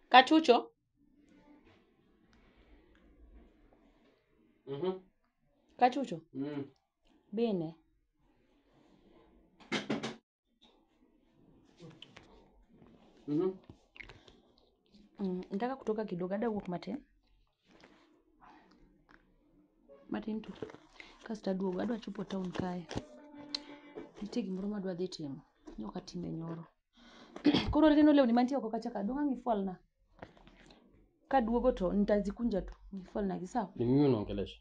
Kachucho. Mhm. Kachucho. Mm. Bine. Mhm. Mm, nataka kutoka kidogo ada wuok matin matin tu kasto aduogo adwa chopo town kae nitie gimoro madwa dhi timo ni ok atime nyoro koro neno lewni mantie oko kacha ka dong' ang' ifwalna kaduogo to nitazikunja tu ifwalnagi sawa Ni mimi unaongelesha?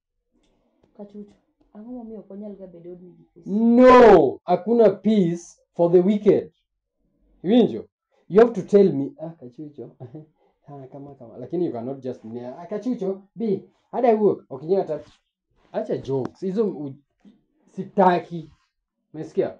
Kachuchu, ang'o momiyo ok wanyal ga bedo e odni gi peace? No, hakuna peace for the wicked. Iwinjo? You have to tell me, ah, kachucho, ah, kama kama. Lakini you cannot just me, ah, kachucho, bi, hada wuok, ok inyal hata. Acha jokes, hizo u- sitaki. Umesikia?